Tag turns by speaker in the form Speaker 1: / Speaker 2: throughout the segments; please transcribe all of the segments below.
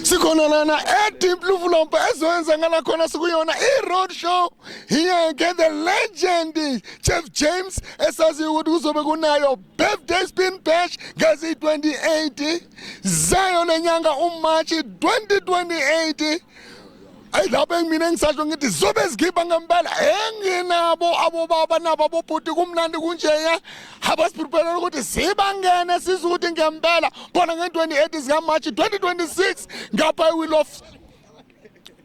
Speaker 1: sikhona lana edeep luvulompo ezoyenza ngala khona sikuyona i-road show here ke the legend jeff james esaziyo ukuthi kuzobe kunayo birthday spin bash ngezi-28 zayo lenyanga umarch 2028 ayi lapho engimina engisasho ngithi zobe zikhipha ngempela enginabo abobaba nabo abobhuti kumnandi kunjeya haba siprepare ukuthi sibangene sizwe ukuthi ngempela khona nge-28 zikamarch 2026 ngapha i-will of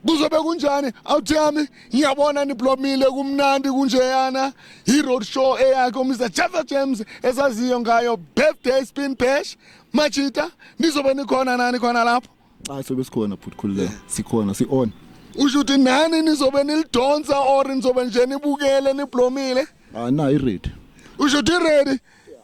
Speaker 1: kuzobe kunjani awuthi yami ngiyabona niblomile kumnandi kunjeyana yi-road show eyakhe umr jeffer james esaziyo ngayo birthday spin bash machita nizobe nikhona nani khona lapho Cha sobe sikhona
Speaker 2: bhuti khululeka. Sikhona si on. Usho ukuthi nani
Speaker 1: nizobe nilidonsa or nizobe nje nibukele niblomile? Ah na
Speaker 2: iready. Usho ukuthi ready?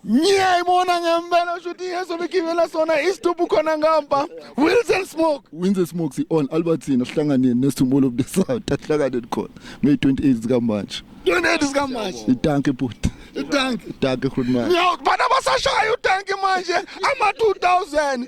Speaker 1: Ngiyayibona ngempela usho ukuthi yeso bigibela sona isitubu khona ngampa. Wilson Smoke. Winze smoke si on Albertina
Speaker 2: sihlanganeni nesithumulo of the south ahlangane khona. May 28 zika March. Donate sikamanje.
Speaker 1: Itanke bhuti.
Speaker 2: Itanki. Itanke khulumani. Yo, bana basashaya
Speaker 1: utanki manje ama 2000.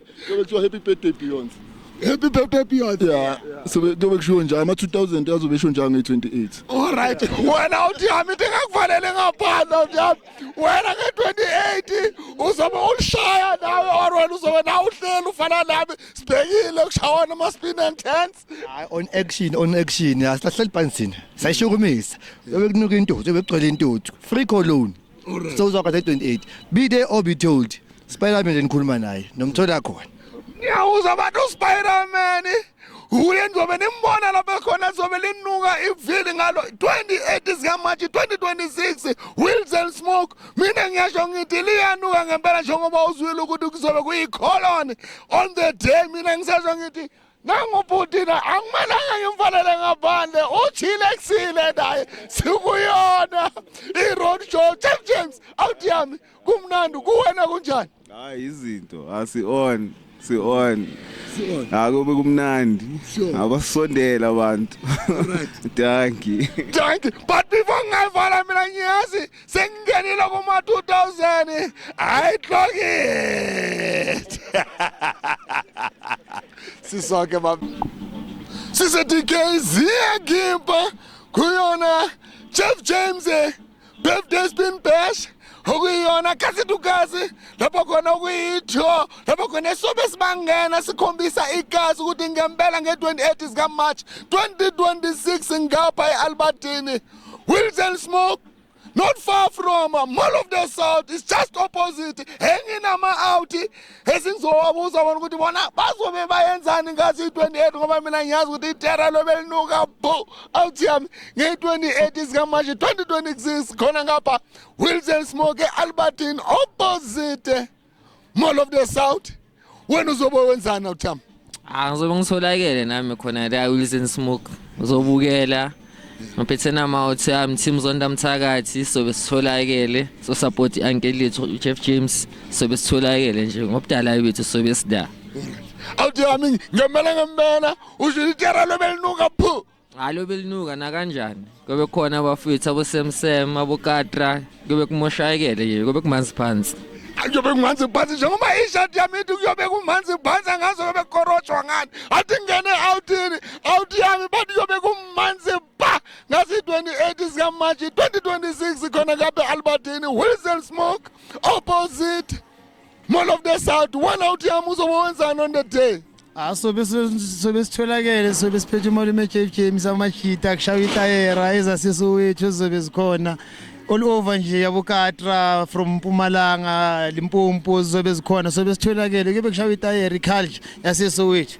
Speaker 2: Kuyobe kuthiwa happy birthday
Speaker 1: Beyonce. Happy birthday Beyonce. Yeah. So kuyobe
Speaker 2: kushiwo njalo ama 2000 azobe esho njalo nge28. All right.
Speaker 1: Wena uthi hami into engakufanele ngaphandle uthi hami. Wena nge28 uzobe ulishaya nawe or wena uzobe nawe uhleli ufana nami sibhekile kushawana ama spin and turns. Hayi on action
Speaker 3: on action asilahleli phansi thina. Sayishukumisa. Yobe kunuka intuthu, yobe kugcwele intuthu. Free cologne. so uzwakwathi 28 be there or be told spiderman enikhuluma naye nomthola khona ngiyawuza abantu
Speaker 1: uspiderman uye nizobe nimbona lapho ekhona zobe linuka ivili ngalo 28 zikamarch 2026 wills and smoke mina ngiyasho ngithi liyanuka ngempela njengoba uzwile ukuthi kuzobe kuyicolon on the day mina ngisasho ngithi nangu bhuti na akumelanga ngimfanele ngaphandle uthile kusile naye sikuyona i-road show james james awuthi yami kumnandi kuwena kunjani hayi izinto
Speaker 4: asi-on si-on akube kumnandi abasondela abantu danki danki but before
Speaker 1: ngingayivala mina ngiyazi sengingenile kuma 2000 hayi clock it sisoke baba sise DKZ ngimpa kuyona Jeff James eh, birthday spin bash okuyiyona khasitukazi lapho khona okuyitho lapho khona esobe sibangena sikhombisa igazi ukuthi ngempela nge-28 zikamarch 2026 ngapha e-albertini wilson smoke not far from mall of the south is just opposite enginama-out esingizowabuza bona ukuthi bona bazobe bayenzani ngathi i-28 ngoba mina ngiyazi ukuthi itera lobe linuka bo out yami ngeyi-28 izikamanje 2026 khona ngapha wilson smoke albertin opposite mall of the south wena uzobe wenzani awuthamba Ah ngizobe
Speaker 5: ngitholakele nami khona la Wilson Smoke. Uzobukela. Ngiphethe nama othi am team zonda mthakathi sobe sitholakele so support uncle lethu Jeff James sobe sitholakele nje ngobudala bethu sobe sida. awuthi
Speaker 1: yami ngemela ngempela usho itera lobelinuka phu hayi lobe linuka
Speaker 5: nakanjani kube khona abafethu abosemsem abokatra kube kumoshayekele nje kube kumanzi phansi kuyobe kumanzi
Speaker 1: phansi njengoba ishati yami ithi kuyobe kumanzi phansi angazi kube kukorotshwa ngani athi ngingene outini out yami bathi kuyobe kumanzi ba ngazi 28 zikamashi 2026 khona kabe albertini wilson smoke opposite Man of the South, one out yami uzoba wenzani on the day? Ah, sobe
Speaker 6: sobe sitholakele sobe siphethe imali emeJF James amashita kushaya itayera ezasiso wethu ezobe zikhona all over nje yabokatra from Mpumalanga Limpopo zobe zikhona sobe sitholakele kube kushaya itayera iculture yasiso wethu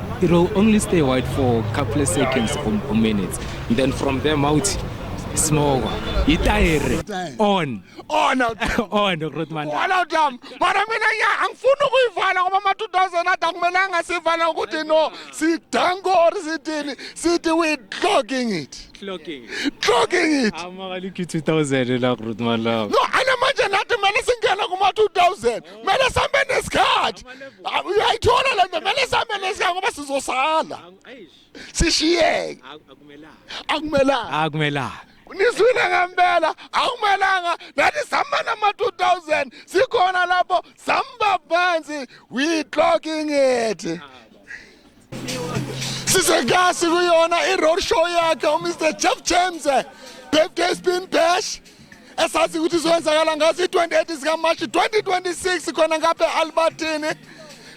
Speaker 7: It will only stay white for a couple of seconds or, or minutes. And then from there out, smoke. Itayere. On. On out.
Speaker 1: On, Rotman.
Speaker 7: On out dam.
Speaker 1: Mara mina ya angifuni ukuyivala ngoba ma 2000 ada kumele angasivala ukuthi no sidango or sithini sithi we clogging it. Clogging. Clogging it. Amaka liki
Speaker 7: 2000 la Rotman la. No, ana manje nathi
Speaker 1: kumele singena kuma 2000. kumele sambe nesikhathi Ah, uyayithola le nto kumele sambe nesikhathi ngoba sizosala sishiyeke akumelanga
Speaker 7: akumelanga nizwile
Speaker 1: ngempela akumelanga nathi sihamba nama-2000 sikhona lapho sihamba phansi we clocking it sisegasi kuyona i-road show yakhe umr jeff james birthday spin bash esazi ukuthi izoyenzakala ngaso i-28 sikamashi 2026 khona ngapha e-albertini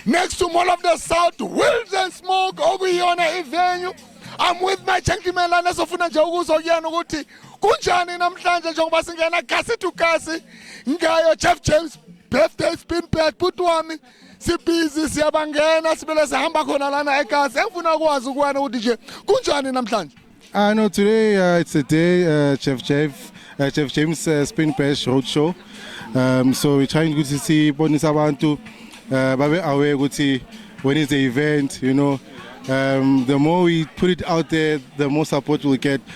Speaker 1: next to mall of the south wills and smoke okuyiyona ivenue i'm with my gentleman lana sofuna nje ukuzwa kuyena ukuthi kunjani namhlanje njengoba singena gasi to gasi ngayo jeff james birthday spin back bhuti wami sibhizi siyabangena sibele sihamba khona lana egazi engifuna ukwazi kuwena ukuthi nje kunjani namhlanje Uh, no, today
Speaker 8: uh, it's a day, uh, Chef Jeff, uh, Chef James uh, Spin Bash Roadshow. Um, so we're trying to see bonisa abantu uh, babe aware ukuthi when is the event, you know. Um, the more we put it out there, the more support we'll get.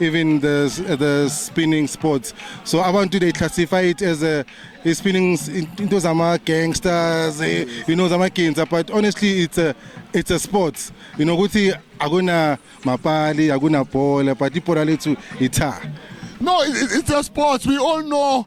Speaker 8: even the the spinning sports so abantu they classify it as a is spinning into zama gangsters eh, you know zama ginza but honestly it's a it's a sport you know ukuthi akuna mapali akuna bhola but ibhola lethu itha No,
Speaker 1: it's a sport. We all know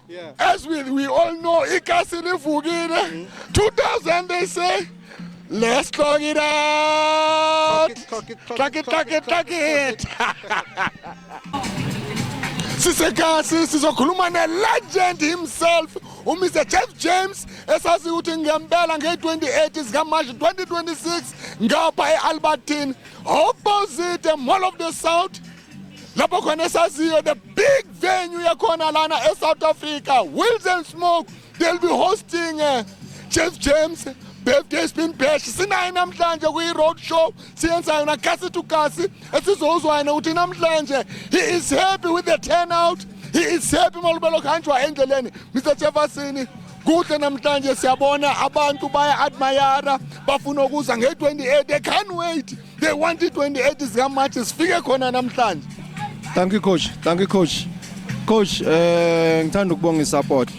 Speaker 1: Yeah. As we,
Speaker 8: we all
Speaker 1: know, ikasi livukile. 2000 they say, let's clock it out. Clock it, clock it, clock it, clock it. sisekasi sizokhuluma ne-legend himself umr jeff james esazi ukuthi ngempela nge-28 zikamarch 2026 ngapha e-albertine opposite mall of the south lapho khona esaziyo the big venue yakhona lana eSouth Africa Wills and Smoke they'll be hosting uh, Jeff James birthday spin bash sinaye namhlanje kwi-road show siyenza yona kasi to kasi esizowuzwa yena ukuthi namhlanje he is happy with the turnout he is happy malubelo kuhanjwa endleleni mr jeffersini kuhle namhlanje siyabona abantu baya-admayara bafuna ukuza nge-28 they can't wait they want i-28 zikamarch sifike khona namhlanje thank you coach
Speaker 9: thank you coach coach eh ngithanda ukubonga isupport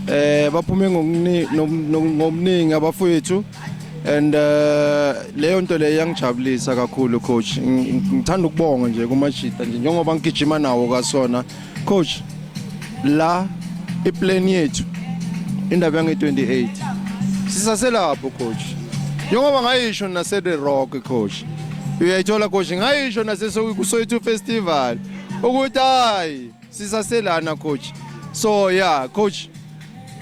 Speaker 9: eh baphume ngokuningi abafowethu and eh, leyo nto leyo yangijabulisa kakhulu coach ngithanda ukubonga nje kumajita nje njengoba ngigijima nawo kasona coach la iplan yethu indaba yange 28 sisaselapho coach njengoba ngayisho nase the rock coach uyayithola coach ngayisho nase soyithu festival ukuthi hayi sisaselana coach so yeah coach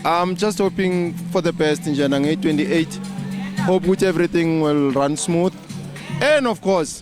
Speaker 9: i'm just hoping for the best njena nge 28 hope ukuthi everything will run smooth and of course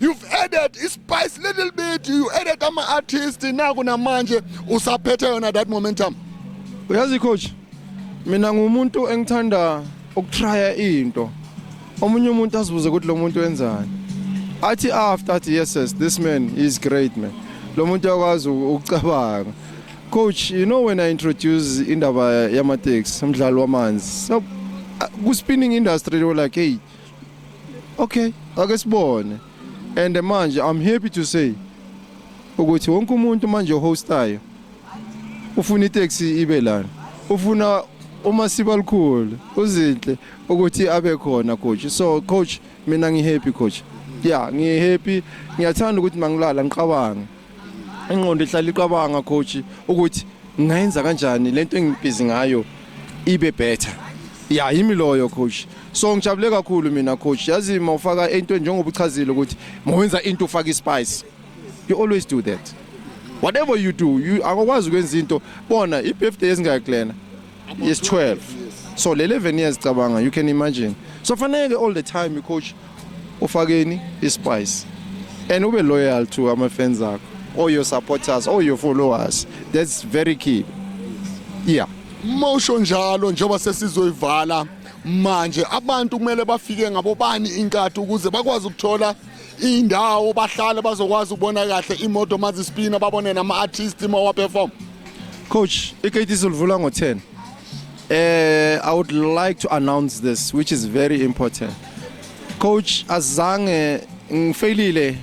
Speaker 1: You've added ispice little bit, you added ama artist naku namanje usaphethe yona that momentum. Uyazi coach,
Speaker 9: mina ngumuntu engithanda ukutrya into. Omunye umuntu azibuze ukuthi lo muntu wenzani. Athi after athi yes yes this man is great man. Lo muntu yakwazi ukucabanga. Coach, you know when I introduce indaba yama taxi, umdlalo wamanzi. So, ku spinning industry they were like, "Hey, okay ake sibone and manje i'm happy to say ukuthi wonke umuntu manje ohostayo ufuna itaxi ibe lana ufuna uma siba likhulu uzinhle ukuthi abe khona coach so coach mina ngihappy coach yeah ngihappy ngiyathanda ukuthi mangilala ngiqabanga ingqondo ihlala iqabanga coach ukuthi ngayenza kanjani lento engibhizi ngayo ibe better ya yimi loyo coach so ngijabule kakhulu mina coach yazi mawufaka into njengoba uchazile ukuthi mawenza into ufaka ispice you always do that whatever you do you akwazi ukwenza into bona ibirthday ezingayiklena is 12 so le 11 years cabanga you can imagine so fanele all the time coach ufakeni ispice and ube loyal to ama fans akho all your supporters all your followers that's very key yeah mosho
Speaker 1: njalo njengoba sesizoyivala manje abantu kumele bafike ngabobani inkatha ukuze bakwazi ukuthola indawo bahlale bazokwazi ukubona kahle imoto mazispina babone nama-artist mawaperform coach
Speaker 9: ikate izolivula ngo-10 eh i would like to announce this which is very important coach azange ngifailile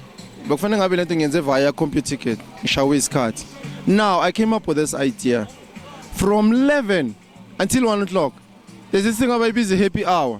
Speaker 9: bekufanele ngabe lento ngiyenze via computer ticket ngishawe isikhathi now i came up with this idea from 11 until 1 o'clock there's this thing abayibiza i-happy hour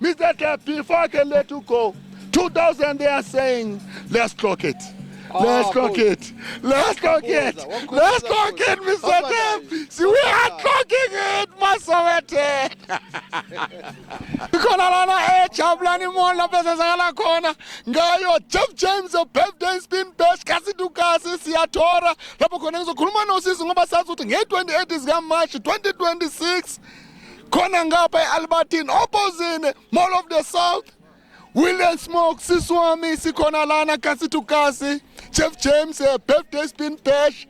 Speaker 1: Mr. Deb, before I can let you go, 2000 they are saying, let's clock it. Ah, let's clock it. Let's clock it. Let's clock it, Mr. Deb. See, we are clocking it, Masawete. Ikhona lana ejabulani imona besezakala khona ngayo Jeff James of birthday spin bash kasi dukasi siyathora lapho khona ngizokhuluma nosisi ngoba sazi ukuthi nge-28 zikamarch 2026 khona ngapha e-albertine opposite mall of the south william smoke sisi wami sikhona lana kasi to kasi jeff james eh, birthday spin bash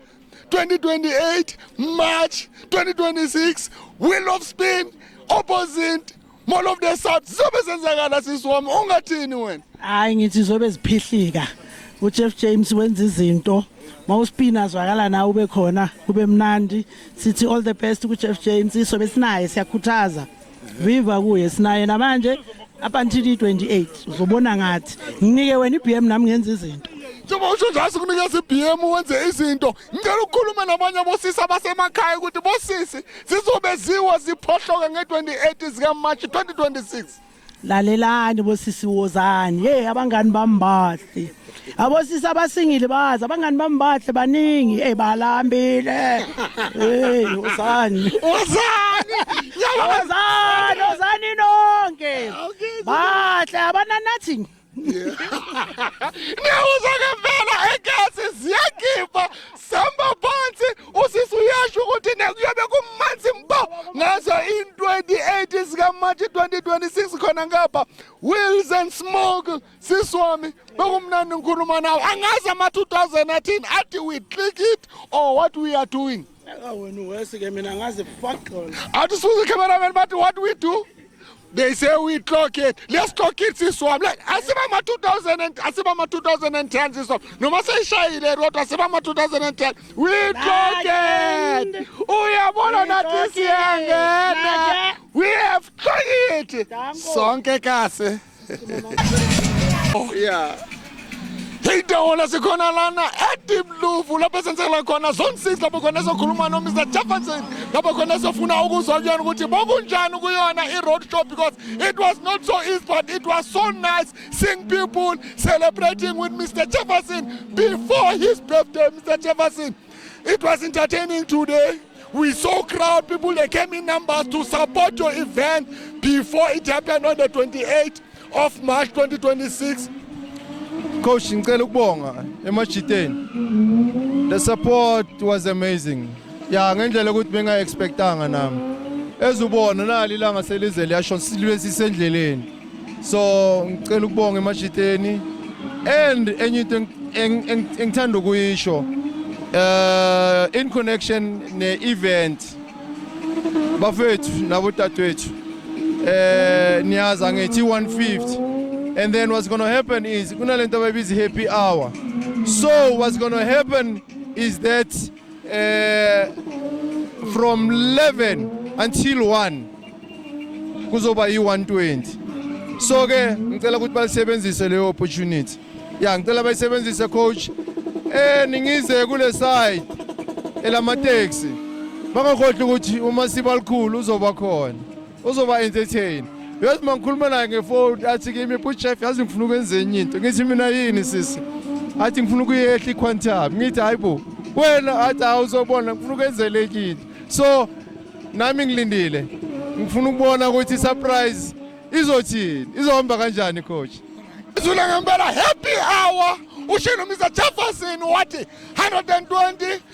Speaker 1: 2028 march 2026 will of spin opposite mall of the south zizobe zenzakala sisi wami ungathini wena hayi ngithi zobe
Speaker 10: ziphihlika ujeff james wenza izinto mawuspina zwakala nawe ube khona kube mnandi sithi all the best kuJeff J insizwa besinaye siyakhuthaza viva kuye sinaye namanje up until 28 uzobona ngathi nginike wena iBM nami ngenza izinto njengoba usho nje
Speaker 1: asikunikeza iBM wenze izinto ngicela ukukhuluma nabanye abosisi abasemakhaya ukuthi bosisi zizobeziwa ziphohloke nge-28 zikaMarch 2026 lalelani
Speaker 10: bosisi wozani hey abangani bami bahle abosisi abasingile bazi abangani bami bahle baningi hey balambile hey wozani Wozani! Yabo! wozani wozani nonke bahle abana nothing
Speaker 1: Ngiyawuza ngempela egesi ziyagiba samba phansi usisi uyasho ukuthi nekuyobe kumanzi mbo ngazo in 28 sika March 2026 khona ngapha Wills and Smoke sisi wami bekumnandi ngikhuluma nawe angazi ama 2000 athini athi we click it or what we are doing
Speaker 10: Athi usuze
Speaker 1: cameraman bathi what we do? They say we clock it. Let's clock it siswam. Like asiba ma 2000 and asiba ma 2010 siswam. Noma seyishayile kodwa asiba ma 2010. We clock it. Uyabona nathi siyangena. We have clock it. Sonke kahle. oh yeah Idahola sikhona lana eDeep Luvu lapho esenzela khona zone 6 lapho khona ezokhuluma no Mr Jefferson lapho khona esofuna ukuzwa kuyona ukuthi bokunjani kuyona i road show because it was not so easy but it was so nice seeing people celebrating with Mr Jefferson before his birthday Mr Jefferson It was entertaining today. We saw crowd people that came in numbers to support your event before it happened on the 28th of March 2026.
Speaker 9: Coach, ngicela ukubonga emajiteni. The support was amazing. Ya ngendlela ukuthi benga expectanga nami. Ezubona nali langa selize liyasho silwe sisendleleni. so ngicela ukubonga emashiteni and enye into engithanda ukuyisho uh in connection ne event bafethu nabo dadwethu eh niyazi angithi 150 and then what's going to happen is kunalento abayibiza happy hour so what's going to happen is that eh from 11 until 1 kuzoba yi-120 so ke ngicela ukuthi balisebenzise leyo opportunity ya ngicela bayisebenzise coach eh ningize kule side elamateksi bangakhohlwa ukuthi uma sibalikhulu uzoba khona uzoba entertain yazi uma ngikhuluma naye ngefoni athi kimi bhuti chef yazi ngifuna ukwenza enye into ngithi mina yini sisi athi ngifuna ukuyehla iquantum ngithi hayi bo wena athi hawu uzobona ngifuna ukwenzela enye into so nami ngilindile ngifuna ukubona ukuthi surprise izothini
Speaker 1: izohamba
Speaker 9: kanjani
Speaker 1: coach
Speaker 9: izula
Speaker 1: ngempela
Speaker 9: happy hour
Speaker 1: ushe nomisa jefferson wathi 120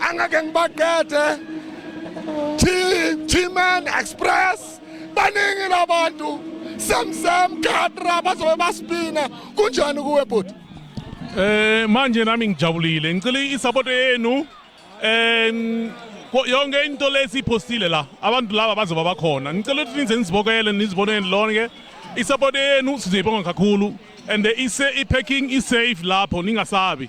Speaker 1: angeke ngibaqede T-Man Express baningi labantu semsem khatra bazobe basipina kunjani kuwe bhuti eh
Speaker 11: manje nami ngijabulile ngicela isupport yenu eh yonke into lesiphostile la abantu laba bazoba bakhona ngicela ukuthi nize nizibokele nizibonele lonke isupport yenu sizoyibonga kakhulu and ise i-packing i-safe lapho ningasabi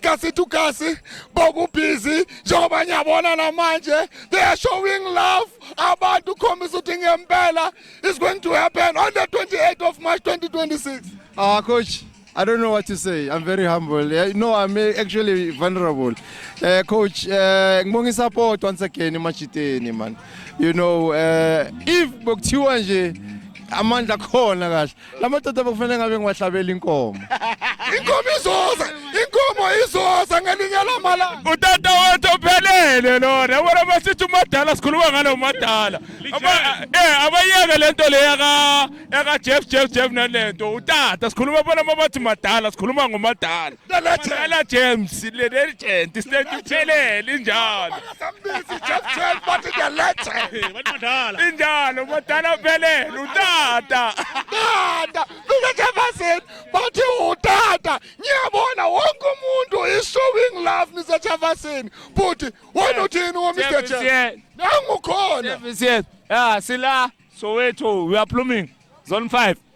Speaker 1: kasi to kasi bokubhizi njengoba ngiyabona namanje they are showing love abantu ukhombisa ukuthi ngempela is going to happen on the 28th of March 2026 ah coach
Speaker 9: I don't know what to say. I'm very humble. Yeah, no, I'm actually vulnerable. Uh, coach, uh, ngibonga support once again emajiteni man. You know, uh, if bokuthiwa nje amandla khona kahle la madoda bekufanele ngabe ngiwahlabela inkomo inkomo izoza
Speaker 1: inkomo izoza ngelinye lamalanga utata wethu
Speaker 11: ophelele lona bona basithi umadala sikhuluma ngalo madala eh abayeke lento le yaka yaka Jeff Jeff Jeff nalento utata sikhuluma bona mabathi madala sikhuluma ngomadala Dala James le legend isilento iphelele injalo. Sambizi Jeff
Speaker 1: James bathi the legend. Bathi madala. Injalo
Speaker 11: madala uphelele utata. Tata,
Speaker 1: mina Jefferson bathi utata. Ngiyabona wonke umuntu is showing love Mr Jefferson. Bhuti, wena uthini wo Mr James? Nangu khona. Service yes.
Speaker 12: Ah sila Soweto we are blooming. Zone 5.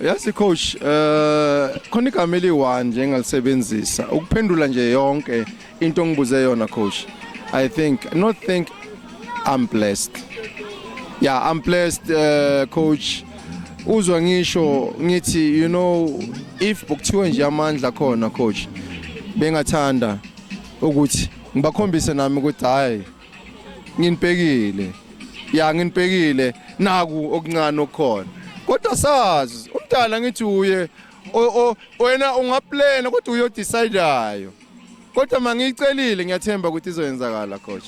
Speaker 9: Yazi coach eh khona igama eliwa nje engalisebenzisa ukuphendula nje yonke into ngibuze yona coach I think not think I'm blessed yeah I'm blessed uh, coach uzwa ngisho ngithi you know if bokuthiwa nje amandla khona coach bengathanda ukuthi ngibakhombise nami ukuthi hayi nginibhekile ya nginibhekile naku okuncane okukhona kodwa sazi umdala ngithi uye wena ungaplena kodwa uyodecidayo kodwa mangiyicelile ngiyathemba ukuthi izoyenzakala coach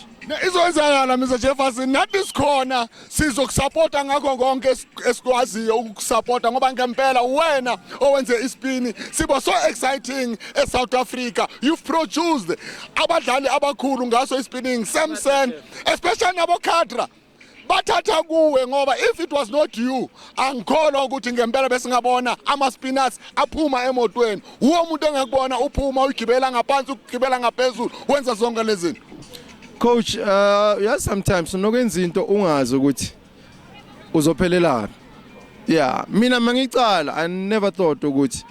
Speaker 9: izoyenzakala
Speaker 1: Mr Jefferson nathi sikhona sizokusapota ngakho konke esikwaziyo ukusapota ngoba ngempela wena owenze isipini sibo so exciting eSouth Africa you've produced abadlali abakhulu ngaso isipinning Samson especially nabo Khadra bathatha kuwe ngoba if it was not you angikholwa ukuthi ngempela besingabona ama-spinners aphuma emotweni wuwo umuntu engekubona uphuma uyigibela ngaphansi ukugibela ngaphezulu wenza zonke lezi zinto Coach, uh
Speaker 9: yeah sometimes unokwenza into ungazi ukuthi uzophelelaphi. Yeah, mina mangicala I never thought ukuthi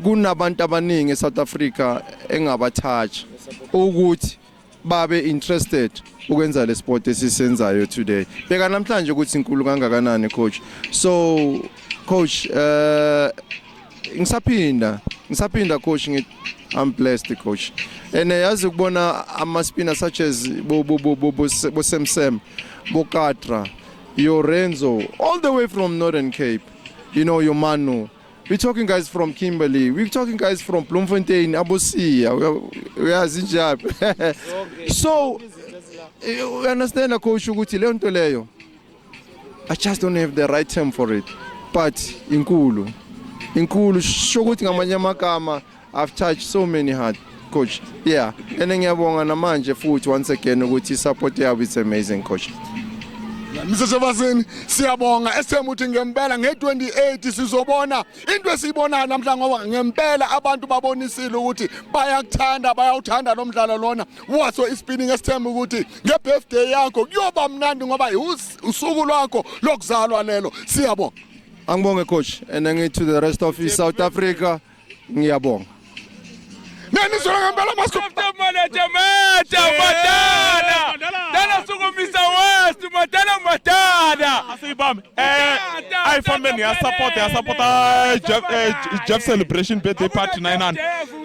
Speaker 9: kunabantu abaningi eSouth Africa engabathatha ukuthi babe interested ukwenza le sport esisenzayo today bheka namhlanje ukuthi inkulu kangakanani coach so coach uh Ngisaphinda, ngisaphinda coach ngithi I'm blessed coach. And yazi ukubona ama spinner such as bo bo bo bo bo Sam Sam, bo Katra, Yorenzo all the way from Northern Cape. You know your Manu we're talking guys from Kimberley we're talking guys from Bloemfontein abosiya uyazi njalo so eh, you understand coach ukuthi leyo nto leyo I just don't have the right term for it but inkulu inkulu sho ukuthi ngamanye amagama I've touched so many hearts coach yeah and ngiyabonga namanje futhi once again ukuthi support yabo is amazing coach Mr
Speaker 1: Sebasini siyabonga esithemba ukuthi ngempela nge28 sizobona into esiyibonayo namhlanje ngoba ngempela abantu babonisile ukuthi bayakuthanda bayawuthanda lo mdlalo lona waso ispinning esithemba ukuthi ngebirthday yakho kuyoba mnandi ngoba usuku lwakho lokuzalwa lelo siyabonga angibonge coach
Speaker 9: and ngithi to the rest of South Africa ngiyabonga
Speaker 1: Nenizwela ngempela masko Manje
Speaker 11: manje madala Dala sukumisa west madala madala Asibambe
Speaker 12: eh ayifambeni ya support ya support Jeff eh, Jeff celebration birthday party 900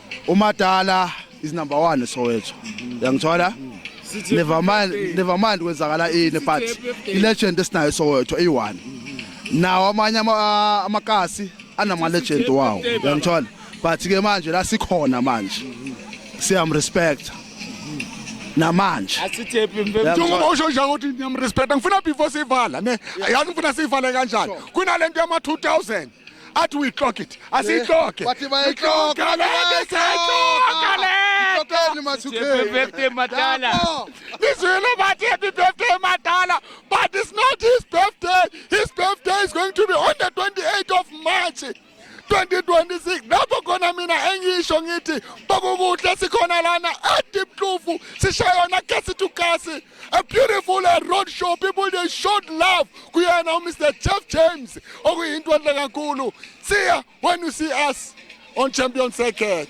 Speaker 2: umadala is number 1 Soweto yangithola never mind never mind kwenzakala ini but ilegend esinayo Soweto eyi1 nawo amanye amakasi anama legend wawo yangithola but ke manje la sikhona manje siyam respect namanje asithephi
Speaker 1: mfethu uma usho nje ukuthi ngiyam respect ngifuna before sivala ne yazi ngifuna sivale kanjani kunalento yama 2000 athi uyixoga ithi asiyixoge Eh, bathi bayixoga,
Speaker 2: Ixoga le, siyayixoga le.
Speaker 1: Ixoxeni mathukeni. Happy birthday, Madala. Lapho. Lizwile bathi happy birthday madala but it's not his birthday his birthday is going to be on the 28th of march 2026 lapho khona mina engisho ngithi bokukuhle sikhona lana ediplufu sishayona kasi to kasi a beautiful uh, road show people they showed love kuyena umr jeff james okuyinto enhle kakhulu see when you see us on champion circuit